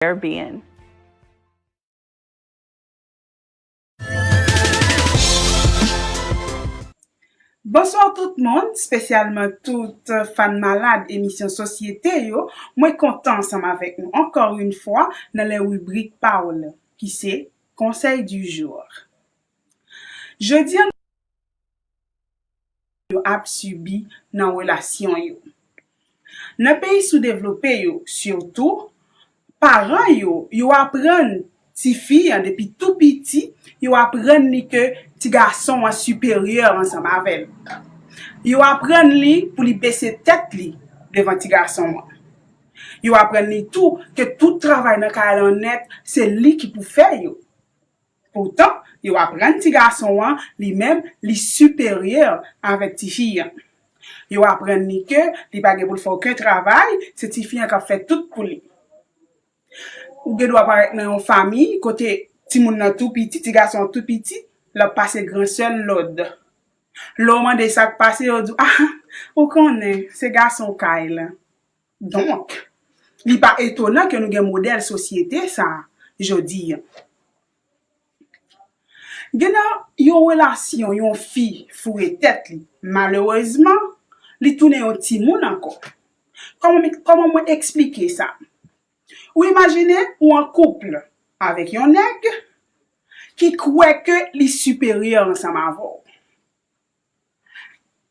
Caribbean. Bonsoir tout moun, spesyalman tout fan malad emisyon sosyete yo, mwen kontan ansanm avèk nou ankò yn fwa nan lè ribrik pa w lan ki se Conseil du jour. Jodi an. yo ap sibi nan relasyon yo. Nan peyi soudevlope yo sitou, paran yo, yo aprann tifi an depi tou piti, yo aprann li ke ti gason an siperyè ansanm avè l. Yo aprann li pou li bese tèt li devan ti gason an. Yo aprann li tou ke tout travay nan kay lan nèt se li ki pou fè yo. Poutan, yo aprann ti gason an li menm li siperyè avèk ti fi an. Yo aprann li ke li pa gen pou l fè oken travay, se ti fi an k ap fè tout pou li. Ou gen dwa parèt nan yon fanmi kote timoun nan tou piti, ti gason an tou piti, l ap pase gran sè l lòd. Lè w mande sa k pase, yo di w, A, ou konnen, se gason kay la. Donk, li pa etonan ke nou gen modèl sosyete sa a jodi. Gen nan yon relasyon yon fi foure tèt li, malerezman, li tounen yon timoun ankò. Kòman mwen eksplike sa? Ou imajine ou an kouple avèk yon nèg ki kwè ke li siperyè ansanm avè w.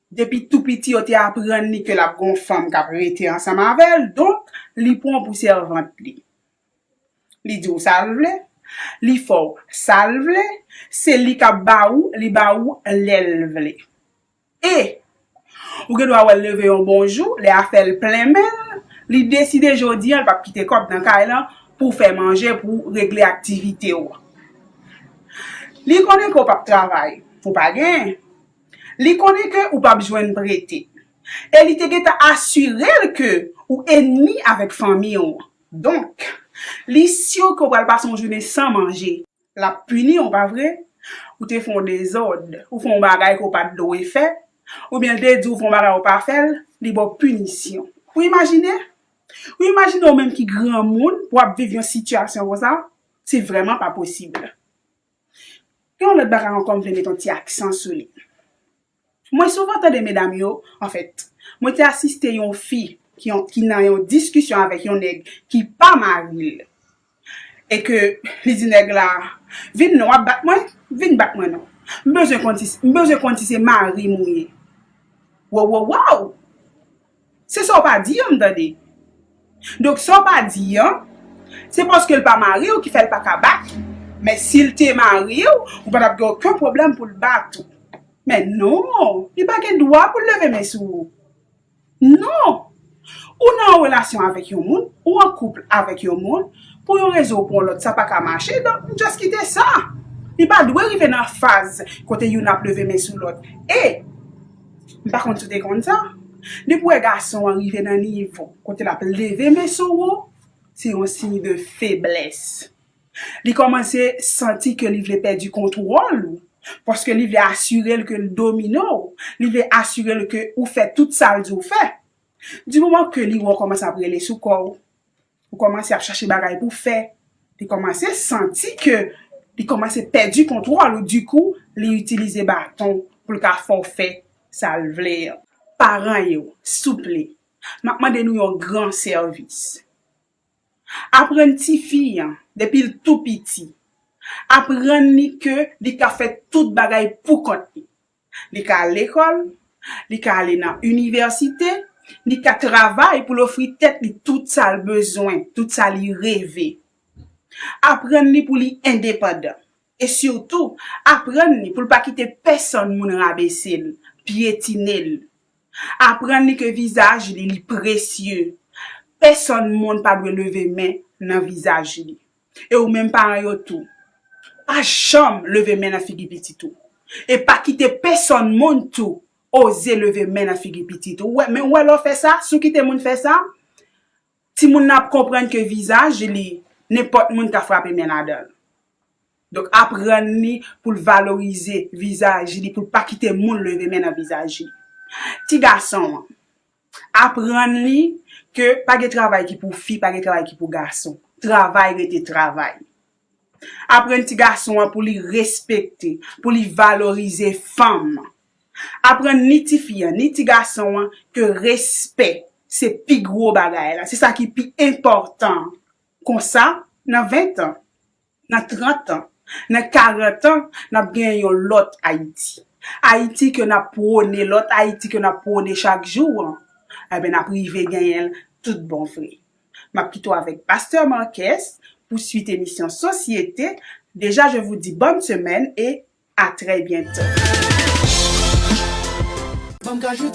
Depi tou piti yo te aprann li ke l ap gen yon fanm k ap rete ansanm avè l, donk li pran w pou sèvant li. Li di w sa l vle, li fè w sa l vle, se li k ap ba ou, li ba ou lè l vle. E, ou gen dwa wè l leve yon bon jou, lè afè l plen men l, li deside jodi an l p ap kite kòb nan kay lan pou w fè manje, pou w regle aktivite w. Li konnen ke w p ap travay. Pou pa gen. Li konnen ke ou pap jwenn prete. E li te gentan asire l ke ou enmi avèk fanmi w. Donk, li sur ke ou pral pase yon jounen san manje. L ap pini w, pa vre? Ou te fè yon dezòd, ou fè yon bagay ke ou pa t dwe fè, oubyen l te di w fè yon bagay ou pa fè l, li ba w pinisyon. Ou imajine? Ou imajine ou menm ki granmoun pou w ap viv yon sitiyasyon konsa? Se vrèman pa posib. Yon lòt bagay ankò m vle met yon ti aksan sou li. Mwen souvan tande medam yo, anfèt, mwen te asiste yon fi ki nan yon diskisyon avèk yon nèg ki pa mari l e ke li di nèg la, vin non w ap bat mwen, vin bat mwen non. M bezwen konn si se mari m ou ye. Wowowow! Se sa w pa di an m tande. Donk sa w pa di an, se paske l pa mari w ki fè l pa ka bat ou. Men si l te mari w, ou pa t ap gen oken pwoblèm pou l bat ou. Men non! Li pa gen dwa pou l leve men sou ou. Non! Ou nan yon relasyon avèk yon moun, ou an kouple avèk yon moun, pou yon rezon ou pou yon lòt sa pa ka mache, donk m just kite sa. Li pa dwe rive nan faz kote youn ap leve men sou lòt. E, M pa konn si w te konn sa, depi w wè gason an rive nan nivo kote l ap leve men sou ou, se yon siy de feblès. Li kòmanse santi ke li vle pèdi kontwòl ou, paske li vle asire l ke l domine w, li vle asire l ke ou fè tout sa l di w fè. Di moman ke li wè w kòmanse ap rele sou kò w, Ou kòmanse ap chache bagay pou fè. Li kòmanse santi ke li kòmanse pèdi kontwòl ou dikou li itilize baton pou l ka fè w fè sa l vle an. Paran yo, souple, m ap mande nou yon gran sèvis. Aprann tifi an depi l tou piti, aprann li ke li ka fè tout bagay poukont li. Li ka al lekòl, li ka ale nan inivèsite, li ka travay pou l ofri tèt li tout sa l bezwen, tout sa li reve. Aprann li pou li endepandan. E sitou, aprann li pou l pa kite pèsonn moun rabese l, pyetine l. Aprann li ke vizaj li, li presye. Pèsonn moun pa dwe leve men nan vizaj li. E ou menm paran yo tou, pa janm leve men nan figi pitit ou. E pa kite pesonn moun tou oze leve men nan figi pitit ou. Men ou wè lè w fè sa, si w kite moun fè sa, timoun nan ap konprann ke vizaj li, nenpòt moun ka frape men ladan l. Donk aprann li pou l valorize vizaj li, pou l pa kite moun leve men nan vizaj li. Ti gason an. Aprann li ke pa gen travay ki pou fi, pa gen travay ki pou gason. Travay rete travay. Aprann ti gason an pou li respekte, pou li valorize fanm. Aprann ni ti fi an, ni ti gason an ke respè se pi gwo bagay la, se sa ki pi enpòtan. Konsa, nan ventan. Nan 30 tan, nan 40 tan, n ap gen yon lòt Ayiti. Ayiti ke n ap pwone, lòt Ayiti ke n ap pwone chak jou an, enben n ap rive genyen l tout bon vre. M ap kite w avèk Pastè Marques pou suit emisyon Sosyete. Deja je vou di bòn semèn e a trè byento.